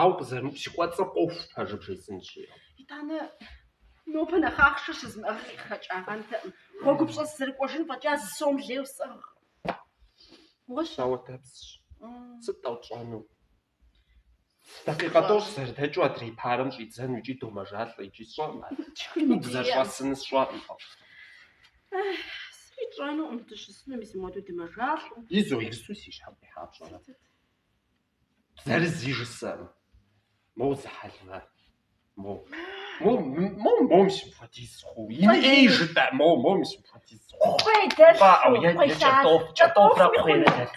Ауэ къызэрыупщыкӏуэцӏыр къохъу, пэжыр бжесӏэнщи. Итӏанэ нобэ нэхъ ахъшэ щызмыӏэжыр къытхэкӏагъэнкъым. Гъуэгупщӏэ сызэрыкӏуэжын фӏэкӏа зы сом лейуэ сиӏэкъым. Гугъущ. Сауэтэпсщ. Сыт-тӏэ тщӏэнур? Дакъикъэ тӏощӏ зэрыдэкӏыу адрей парэм щӏидзэну икӏи домэжалӏэ, икӏи сщӏэкъым ар. Тхыну дызэрыщӏэсынур сщӏэкъым, тӏощӏ. Сыти тщӏэнукъым, дыщысыну мис мыуэду дымэжалӏэу. Итӏанэ си щхьэм къихьа пщӏэрэ? Зырзи жысӏэм. Моу зы хьэлмэ. Моу. Моу, моу, моу симпатиз ху. Ин эй жытӏа, моу, моу симпатиз ху. Кхъуей дэр. Ба, ау, я, я, чатов, чатовра кхъуей дэр.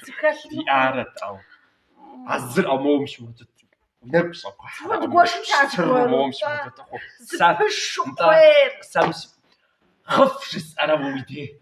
Ди арат, ау. А зыр, ау, моу симпатиз. Нэр псо кхъуей. Вот гоши чат. Сыр, моу симпатиз ху. Сапыш кхъуей. Сам сим. Хыф жысӏэра уи дей.